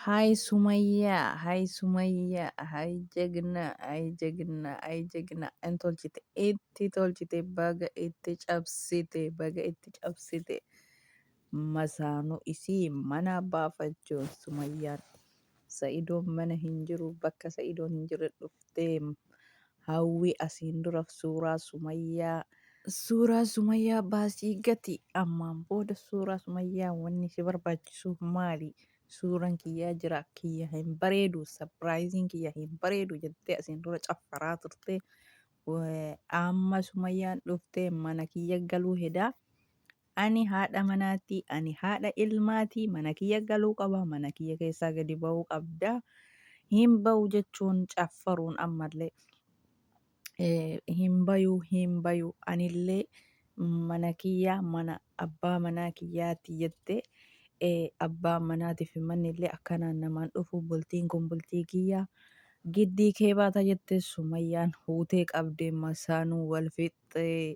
Hay sumayya hay sumayya hay jagna hay jagna hay jagna in tolchite itti tolchite baga itti cabsite baga itti cabsite masaanu isii mana baafachuun sumayyaan sa'idoon mana hin jiru bakka sa'idoon hin jirre dhuftee Hawwi asiin dura suuraa sumayyaa. Suuraa sumayyaa baasii gati ammaan booda suuraa sumayyaa wanni si barbaachisuu maali suuran kiyyaa jira kiyya hin bareedu sapiraayiziin kiyya hin bareedu jettee asiin dura caffaraa turte amma sumayyaan dhuftee mana kiyya galuu hedaa Ani haadha manaati, ani haadha ilmaati, mana kiyya galuu qaba, mana kiyya keessaa gadi ba'uu qabda, hin ba'u jechuun caffaruun ammallee eh, hin bayu, hin bayu, anillee mana kiyya, mana abbaa manaa kiyyaati jettee eh, abbaan manaatiif fi manni illee akkanaan namaan dhufu bultiin kun bultii kiyya giddii kee baata jettee sumayyaan huutee qabdee masaanuu wal fixxee.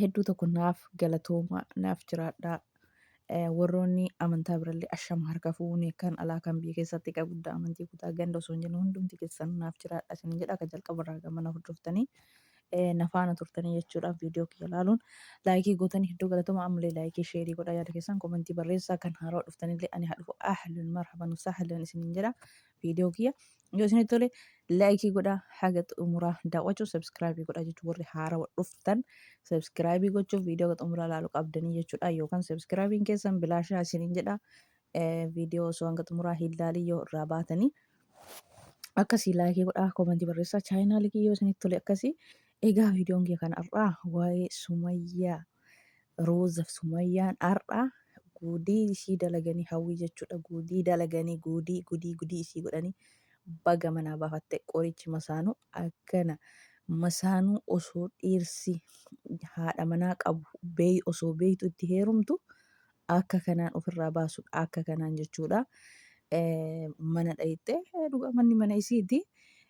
hedduu tokko naaf galatoomaa naaf jiraadhaa Eh, warroonni amantaa birallee ashama harka fuunee kan alaa kan biyya keessatti egaa guddaa amantii kutaa ganda osoo hin jennu hundumti keessan naaf jiraadha isin jedha akka jalqaba irraa gama na hordoftanii eh, na faana turtanii jechuudha viidiyoo kiyya ilaaluun laayikii gootanii hedduu galatoomaa ammallee laayikii sheerii godhaa yaada keessan komentii barreessaa kan haaraa dhuftanillee ani haa dhufu ahlan marhaban sahlan isiniin jedha viidiyoo kiyya yoo isinitti tole laayikii godhaa haga xumuraa daawwachuu sabskraayibii godhaa jechuun warri haarawa dhuftan sabskraayibii gochuuf viidiyoo haga xumuraa ilaaluu qabdanii jechuudha yookaan sabskraayibiin keessan bilaashaa isiniin jedha Eh, viidiyoo osoo hanga xumuraa hin laalin yoo irraa baatanii akkasii laayikii godhaa koomentii barreessaa chaayinaalii kiyya yoo isinitti tole akkasii egaa viidiyoon kiyya kan har'aa waa'ee sumayyaa Roozaf Sumayyaan har'a guudii ishii dalaganii hawwii jechuudha guudii dalaganii guudii gudii gudii ishii godhanii baga manaa baafatte qorichi masaanuu akkana masaanuu osoo dhiirsi haadha manaa qabu beey osoo beeytu itti heerumtu akka kanaan ofirraa baasudha akka kanaan jechuudha mana dhayxee dhuga manni mana isiiti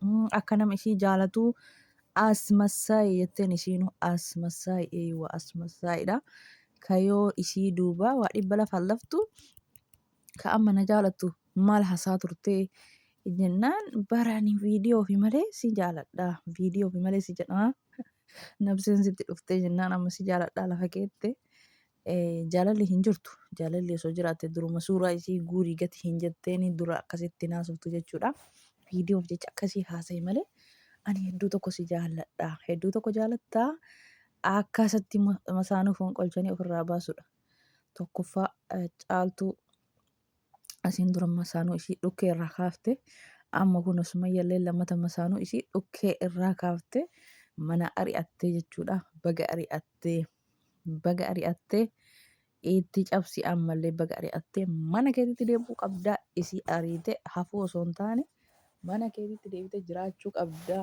Mm, akka nama ishii jaalatu asmasaayi jetteen ishiinu asmasaayi eeywa asmasaayidha kayoo ishii duuba waa dhibba lafa laftu ka amma na jaalatu maal hasaa turtee jennaan barani viidiyoo fi malee si jaaladha viidiyoo fi malee si jedhaa nabseen sitti dhuftee jennaan amma si jaaladha lafa keette Jaalalli hin jirtu. Jaalalli osoo jiraatte duruma suuraa isii guurii gati hin jetteeni dura akkasitti naasoftu jechuudha. Viidiyoof jecha akkasii haasa'i malee ani hedduu tokko si jaalladha. Hedduu tokko jaalattaa akkasatti masaanuu fonqolchanii ofirraa baasudha. Tokkoffaa caaltuu asiin dura masaanuu isii dhukkee irraa kaafte amma kun sumayyallee lammata masaanuu isii dhukkee irraa kaafte mana ari'attee jechuudha baga ari'attee baga ari'attee itti cabsi ammallee baga ari'attee mana keetitti deebi'uu qabdaa isii ariite hafuu osoo hin taane mana keetitti deebite jiraachuu qabdaa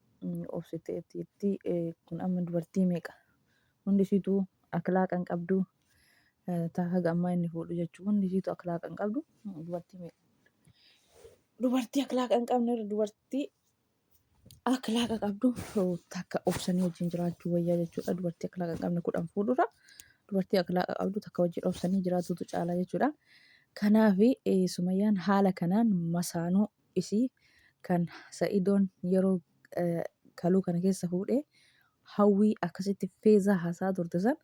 obsitee jetti kun amma dubartii meeqa hundi isiitu akhlaaqa hin qabdu taa haga ammaa inni fuudhu jechuun hundi isiitu akhlaaqa hin qabdu dubartii meeqa dubartii akhlaaqa hin qabne irra dubartii akhlaaqa qabdu takka obsanii wajjin jiraachuu wayyaa jechuudha dubartii akhlaaqa hin qabne kudhan fuudhurra dubartii akhlaaqa qabdu takka wajjin obsanii jiraatutu caalaa jechuudha. Kanaafi sumayyaan haala kanaan masaanuu isii kan sa'idoon yeroo kaluu kana keessa fuudhee hawwii akkasitti feezaa haasaa turte san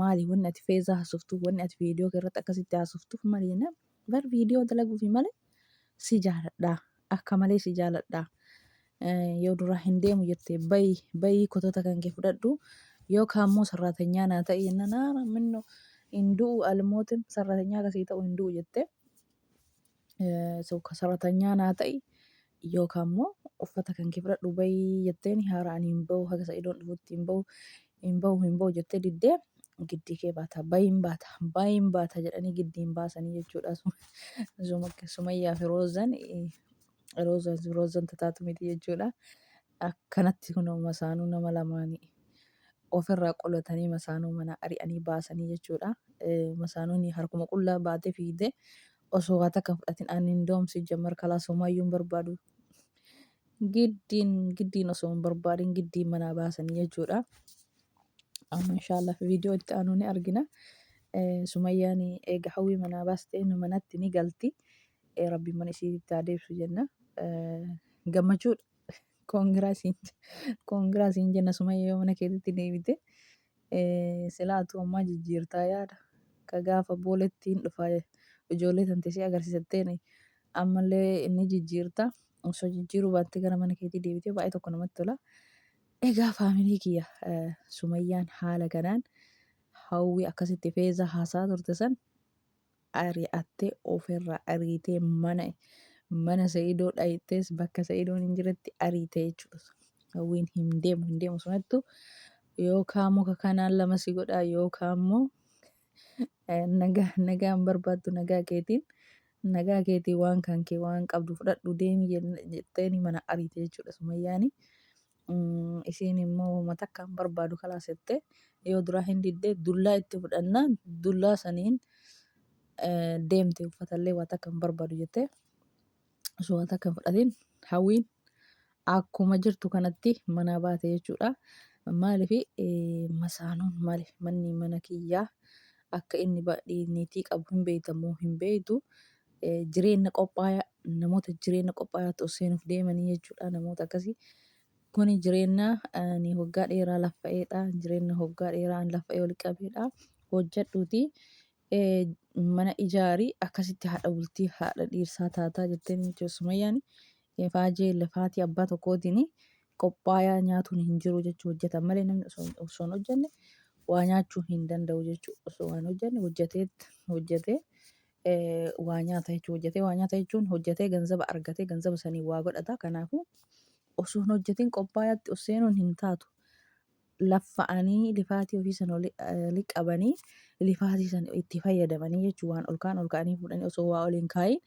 maali wanni ati feezaa haasoftuuf wanni ati viidiyoo irratti akkasitti haasoftuuf maali jennaan bar viidiyoo dalaguufi malee si jaaladhaa akka malee si jaaladhaa yoo duraa hin deemu jettee bayi bayi kotota kan kee fudhadhu yoo kaammoo sarraatanyaa naa ta'e jennaan haara minno hin du'u almootin sarraatanyaa akkasii ta'u hin du'u jettee Saratanyaa naa ta'i yookaan immoo uffata kan kee fudhadhu bahi jetteen haara ani hin bahu haga sa'idoon dhufutti hin bahu hin bahu hin bahu jettee diddee giddii kee baata bahiin baata bahiin baata jedhanii giddiin baasanii jechuudha sumayyaa fi roozan roozan roozan tataatu miti jechuudha akkanatti kun masaanuu nama lamaanii ofirraa qolatanii masaanuu mana ari'anii baasanii jechuudha masaanuun harkuma qullaa baatee fiigdee Osoo waa takka hin fudhatin ani indoom sijjamar kalaasuumayyuu hin barbaadu. Giddiin giddiin osoo hin barbaadin giddiin manaa baasanii jechuudha. Amma inshaallah viidiyoo itti aanu ni argina. Eh, Sumayyaan eega hawwii manaa baaste inni manatti ni galti. Eh, Rabbiin mana isiitti haa deebisu jenna. Eh, Gammachuu koongiraa siin koongiraa siin jenna Sumayya yoo mana keetitti deebite. Silaa atuu ammaa jijjiirtaa yaada ka gaafa booletti hin dhufa ijoollee tante ishee agarsiisattee ammallee inni jijjiirta osoo jijjiiruu baattee gara mana keetii deebitee baay'ee tokko namatti tola. Egaa faamilii kiyya sumayyaan haala kanaan hawwii akkasitti feezaa haasaa turte san ari'attee ofirraa ariitee mana mana Sa'idoo dhayxees bakka Sa'idoon hin jiretti ariitee jechuudha. Hawwiin hin deemu hin deemu sanattu yookaan muka kanaan lama si godhaa yookaan immoo eh, nagaa nagaan barbaaddu nagaa keetiin nagaa keetii waan kan kee waan qabdu fudhadhu deemi jen- jetteeni mana ariitee jechuudha Sumayyaani. Isiin immoo woma takka hin barbaadu kalaas jettee yoo duraa hin didde dullaa itti fudhannaan dullaa saniin deemte uffatallee waa takka hin barbaadu jettee osoo waa takka hin fudhatiin hawwiin akkuma jirtu kanatti manaa baate jechuudha. Maaliif masaanuun maali manni mana kiyyaa akka inni niitii qabu hin beeytamoo hin beeytu Jireenna qophaaya namoota jireenna qophaayaatti ol seenuuf deemanii jechuudha namoota akkasii. Kuni jireenna ani hoggaa dheeraa laffa'eedha. Jireenna hoggaa dheeraa an laffa'ee ol qabeedha. Hojjedhuuti mana ijaari akkasitti haadha bultii haadha dhiirsaa taataa jetteen jechuudha Sumayyaan. Faajee lafaatii abbaa tokkootiin qophaayaa nyaatuun hin jiru jechuu hojjetan malee namni osoo osoo hin hojjenne waa nyaachuu hin danda'u jechuu osoo waan hojjenne hojjeteet hojjetee waa nyaata jechuu hojjatee waa nyaata jechuun hojjatee ganzaba argatee ganzaba saniin waa godhata kanaafuu osoo hin hojjatin qophaayaatti of seenuun hin taatu laffa'anii lifaatii ofii sana oli- eh, liqabanii lifaatii sana itti fayyadamanii jechuu waan ol ka'an ol ka'anii fuudhanii osoo waa ol hin kaayin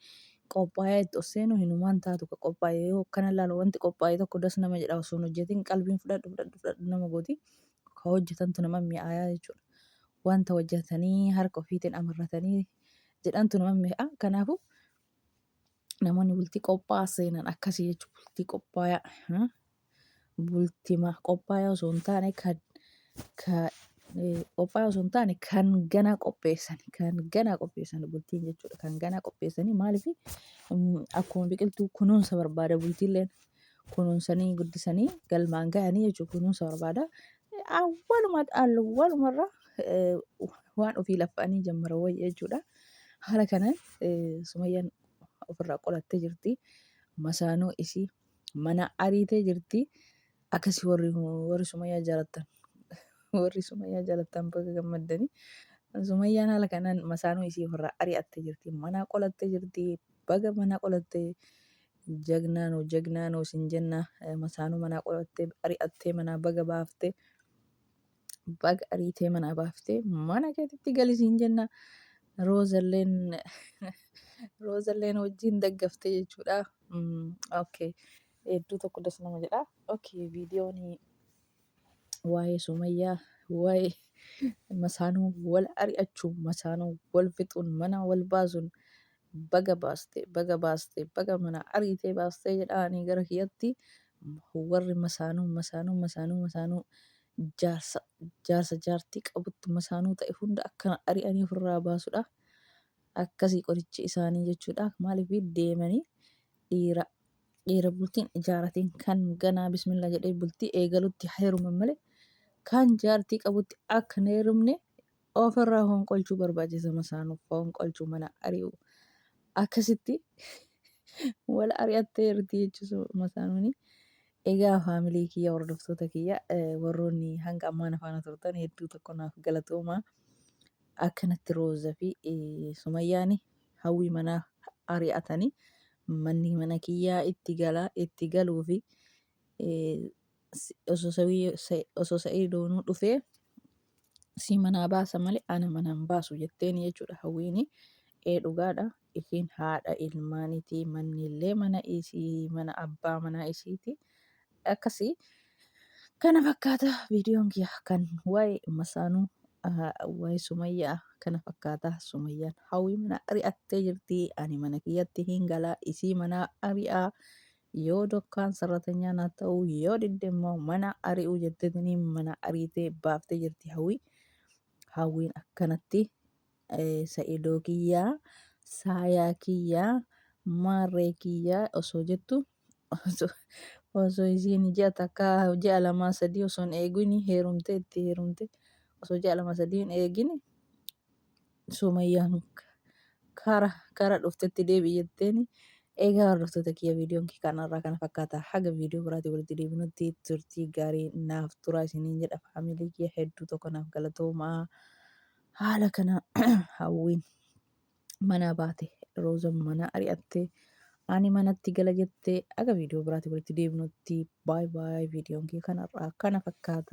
qophaayaa itti of seenuu hinumaan taatu ka qophaa'e yoo akkana ilaalu wanti qophaa'e tokko das nama jedha osoo hin hojjatin qalbiin fudhadhu fudhadhu fudhadhu nama gooti ka hojjatantu nama mi'aayaa jechuudha. Wanta hojjatanii harka ofiitiin amarratanii jedhantu nama mi'aa. Kanaafuu namoonni bultii qophaa'aa seenan akkasii jechuudha. Bultii qophaayaa. hmm, Bultima qophaayaa osoo hin taane kan ka, eh, qophaayaa osoo hin taane kan ganaa qopheessan kan ganaa qopheessan bultiin jechuudha. Kan ganaa qopheessanii maaliif akkuma biqiltuu kunuunsa barbaada bultiilleen kunuunsanii guddisanii galmaan ga'anii jechuudha kunuunsa barbaada. Awwaluma awwalumarraa waan ofii laffa'anii jammara wayya jechuudha. Haala kanaan sumayyaan ofirraa qolattee jirti. Masaanuu isii mana ariitee jirti. Akkasii warri warri sumayyaa jaalattan warri sumayyaa jaalattan baga gammaddanii. Sumayyaan haala kanaan masaanuu isii ofirraa ari'attee jirti. Manaa qolattee jirti. Baga manaa qolattee. Jagnaa noo jagnaa noo sin jenna masaanuu manaa qorattee ari'attee manaa baga baafte baga ariitee manaa baafte mana keetitti gali sin jenna roozalleen roozalleen wajjin daggaftee jechuudha. Mm, Okay hedduu tokko das nama jedha. Okay viidiyoon waa'ee sumayyaa waa'ee masaanuu wal ari'achuu masaanuu wal fixuun mana wal baasuun baga baaste baga baaste baga mana ariitee baastee jedhaa ani gara kiyatti warri masaanuu masaanuu masaanuu masaanuu jaarsa jaarsa jaartii qabutti masaanuu ta'e hunda akkana ari'anii ofirraa baasudha akkasii qorichi isaanii jechuudha maaliif deemanii dhiira dhiira bultiin ijaaratiin kan ganaa bismillah jedhee bultii eegalutti heeruman malee kan jaartii qabutti akka hin heerumne Of irraa honqolchuu barbaachisa masaanuuf honqolchuu mana ari'u akkasitti wal ari'attee irti jechuusu masaanuuni. Egaa faamilii kiyya hordoftoota kiyya eh, warroonni hanga ammaa na faana turtan hedduu tokko naaf galatoomaa. Akkanatti Rooza fi eh, Sumayyaani hawwii manaa ari'atanii manni mana kiyyaa itti galaa itti galuu fi eh, Si- Osoo Sawii- Sa- osoo Sa'iidoonuu dhufee si manaa baasa malee ana manaa hin baasu jetteen jechuudha hawwiini. Ee dhugaadha isiin haadha ilmaanitii manni illee mana isii mana abbaa manaa isiiti. Akkasii kana fakkaata viidiyoon kiyya kan waa'ee masaanuu ah, waa'ee sumayyaa kana fakkaata sumayyaan hawwii mana ari'attee jirti ani mana kiyyatti hin galaa isii manaa ari'aa Yoo dokkaan sarratanyaa naaf ta'uu yoo didde immoo mana ari'uu jettetini mana ariitee baaftee jirti hawwii. Hawwiin akkanatti eh, sa'idoo kiyyaa saayaa kiyyaa maarree kiyyaa osoo jettu osoo osoo isiin ji'a takka ji'a lamaa sadii osoo hin eegini heerumte itti heerumte osoo ji'a lama sadii hin eegini Sumayyaan kara kara dhuftetti deebi jetteeni. Egaa hordoftoota kiyya viidiyoon kee kanarraa kana fakkaata. Haga viidiyoo biraatiin walitti deebinutti turtii gaarii naaf turaa isiniin jedha. Faamilii kiyya hedduu tokko naaf galatoomaa. Haala kana hawwiin manaa baate roozan manaa ari'attee ani manatti gala jettee haga viidiyoo biraatiin walitti deebinutti baay baay viidiyoon kee kanarraa kana fakkaata.